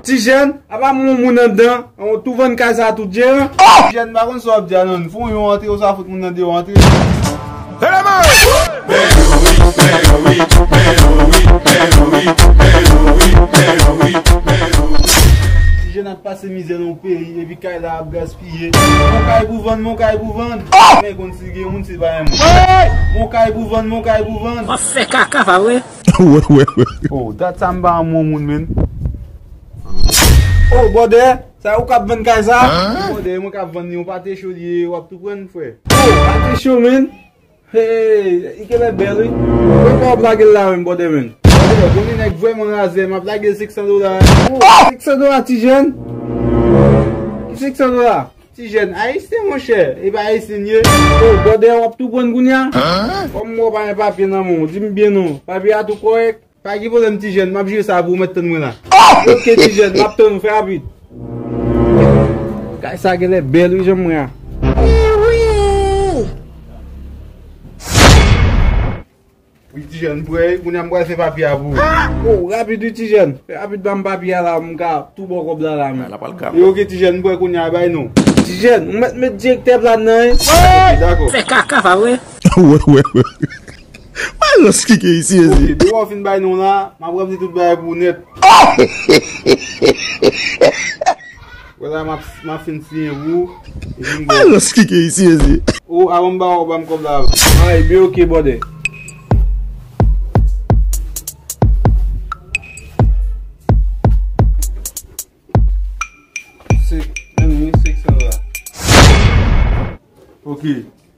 Tijèn, apa m yon moun anndan, ou tou vann kay sa a tou Jeran? Tijèn, m pa konn sa w ap di a non, m fè w yon antre ou sa fout moun nan deyò antre. Tijèn ap pase mizè nan yon peyi epi kay la ap gaspiye. Mon kay pou vann, mon kay pou vann. Mwen konn si gen moun si pa yon moun. Mon kay pou vann, mon kay pou vann. Wap fè kaka pa vre? Oh dat sa m pa renmen yon moun menn. Oh bòdè sa ou kap vann kay sa. Oh bòdè e mwen kap vann li yon pate cho li ye wap tou pran n frè. Oh pate cho menn. Hey li genlè bèl wi. Konbyen fwa wap lagel la menm bòdè menn. Bòdè bon li nèg vrèman razè map lagel 500 dola. Oh 500 dola ti jèn. Ki 500 dola. Ti jèn ayisyen monchè epa ayisyen ye. Oh brother wap tou prann kounya? Kom m wè w pa gen papye nan men w di m byen non, papye a tou korèk? Pa gen pwoblèm ti jèn, map jere sa pou ou mèt tann mwen la. Ok ti jèn, map tann ou, fè rapid. Kay sa genlè bèl wi janm wè a. Wi ti jèn m prè wi kounya m pral fè papye a pou ou. Haa oh rapid wi ti jèn. Fè rapid banm papye a la m ka tou baw kòb la la menm. Wi ok ti jèn m prè kounya bay non. Ti jèn ou mèt met direktè plan nan wi. Ok dakò. Fè kaka pa vre. Wè wè wè wè rans ki gen isi mezanmi. Ok depi wap fin bay non la map ranpli tout bagay pou ou nèt. Wè la map fin siyen pou ou epi m baw. Alos ki ke isi mezi. Ou avan m ba ou banm kob la avan. Ay be ok bòdè. Ok.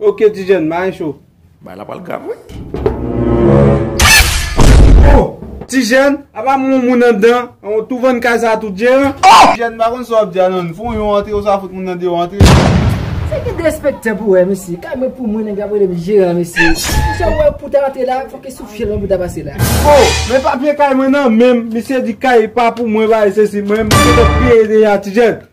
Ok ti jèn mayen cho. Bagay la pral grav wi. Oh ti jèn apa moun moun andan ou tou vann kay sa tou jeran. Oh ti jèn m pa konn sa wap di a non m fon yon antre ou sa fout moun nan deyò antre. Se gen derespektan pou wè mesye. Kay mwen pou mwen nèg la ap relem jeran mesye. Pou sa wè pou ta antre la fok e sou fyèl mwen pou ta pase la. Oh men papye kay mwen nan menm misye di kay pa pou mwen bagay sesi mwen misye te peye deja ti jèn.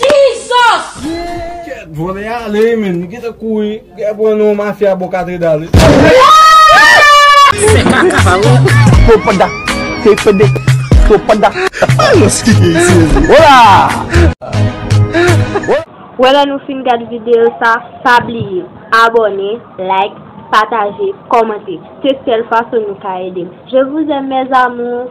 Jesus! Kèt vòlè a ale men li gentan kouri gè pran nou mafya bò katredal wi. Wè lè nou fin gad video sa pa bliye abonné like pataje kòmante se sèl fason nou ka edem je vous aime mes amours.